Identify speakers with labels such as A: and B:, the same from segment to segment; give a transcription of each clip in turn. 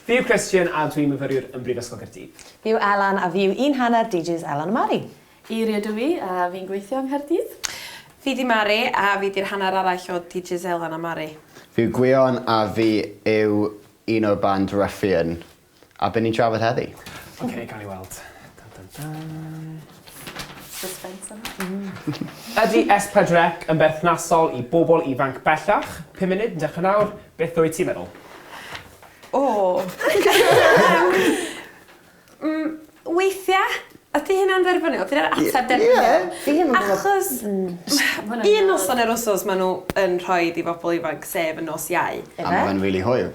A: Fi yw Christian a dwi'n myfyriwr yn Brifysgol Caerdydd. Fi yw Elan a fi
B: yw un hanner DJs Elan a Mari. Eiri ydw i
C: a fi'n gweithio yng Nghaerdydd. Fi di Mari
D: a fi di'r hanner arall o DJs Elan a Mari. Fi yw Gwion
E: a fi yw un o'r band Ruffian a be ni'n trafod heddi? Ok gawn ni weld.
A: Dun dun dun.
C: Suspense
A: yma. Hmm. Ydi S4C yn berthnasol i bobl ifanc bellach? Pum munud yn dechre nawr, beth wyt ti'n meddwl? O!
D: Mm, weithia', ydi hynna'n dderbyniol? Dyna'r ateb derbyniol. Ie, ie. Achos... Mm. Ie, noson yr wsos ma' nhw yn rhoid i bobl ifanc, sef y nos Iau. Yfe? A ma' fe'n rili hwyl.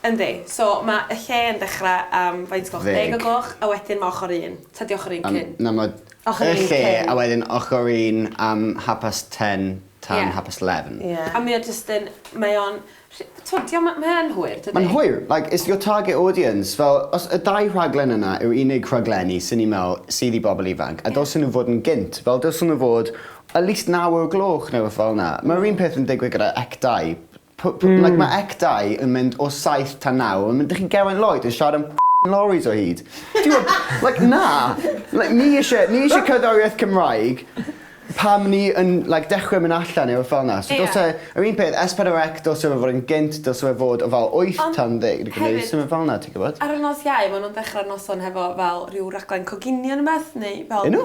E: Yndi, so
D: ma y lle yn dechra am faint gloch? Ddeg. Deg o gloch a wedyn ma ochor un. Ta di ochor un cyn? Yym na ma Ochor un cyn.
E: Y lle a wedyn ochor un am half past ten tan half past eleven. Ie. A mae o jyst yn
D: mae o'n rhy- t'mod dio'm yn mae yn hwyr dydi? Mae'n hwyr like it's your
E: target audience fel os y dau rhaglen yna yw'r unig rhaglenni swn i'n me'wl sydd i bobol ifanc a dylsen nhw fod yn gynt fel dylsen nhw fod at least naw o'r gloch neu rwbeth fel 'na. Ma'r un peth yn digwydd gyda ec dau. P- p- like ma ec dau yn mynd o saith tan naw a ma- dych chi'n Geraint Lloyd yn siarad am f***ing lorries o hyd. Ti'n gwbod? Like na! Like ni isie ni isie cerddoriaeth Cymraeg pam ni yn like dechre myn' allan neu rwbeth fel 'na. So Ie. dylse yr un peth Es Pedwar Ec dylse fe fod yn gynt dylse fe fod o fel wyth Ond tan ddeg neu hefyd symud fel 'na ti'n gwbod? ar y nos Iau ma' nw'n
D: dechra'r noson hefo fel rhyw raglen coginio ne' wbath neu fel... 'Yn nhw?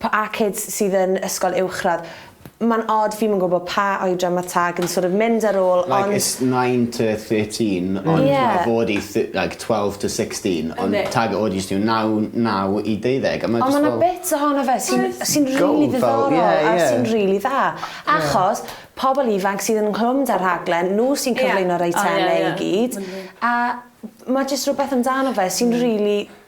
B: Pa a kids sydd yn ysgol uwchradd? Ma'n od fi'm yn gwbo pa oedran ma tag yn sort of mynd ar ôl ond... Like it's nine
E: to thirteen ond ma fod i th- like twelve to sixteen ond tag o jyst yw naw naw i deuddeg a ma jyst fel... Ond ma na bits ohono
B: fe sy'n sy'n rili ddiddorol a sy'n rili dda achos pobl ifanc sydd yn nghlwm da rhaglen nhw sy'n cyflwyno'r eitemau i gyd a ma jyst rwbeth amdano fe sy'n rili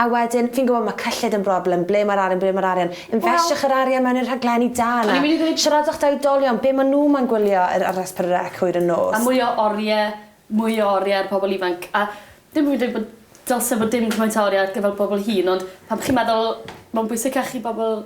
B: A wedyn, fi'n gwybod mae cyllid yn broblem, ble mae'r arian, ble mae'r arian. Infestiwch yr arian mewn i'r rhaglenni da yna. Siaradwch da oedolion, be maen nhw moyn gwylio ar RSPN Rec hwyr yn nos. A mwy o oriau,
C: mwy o oriau ar pobl ifanc. A dim bo' fi'n dweud bod dylse bod dim cymaint o oriau ar gyfer pobl hŷn ond pan chi'n meddwl mae'n bwysicach i bobl...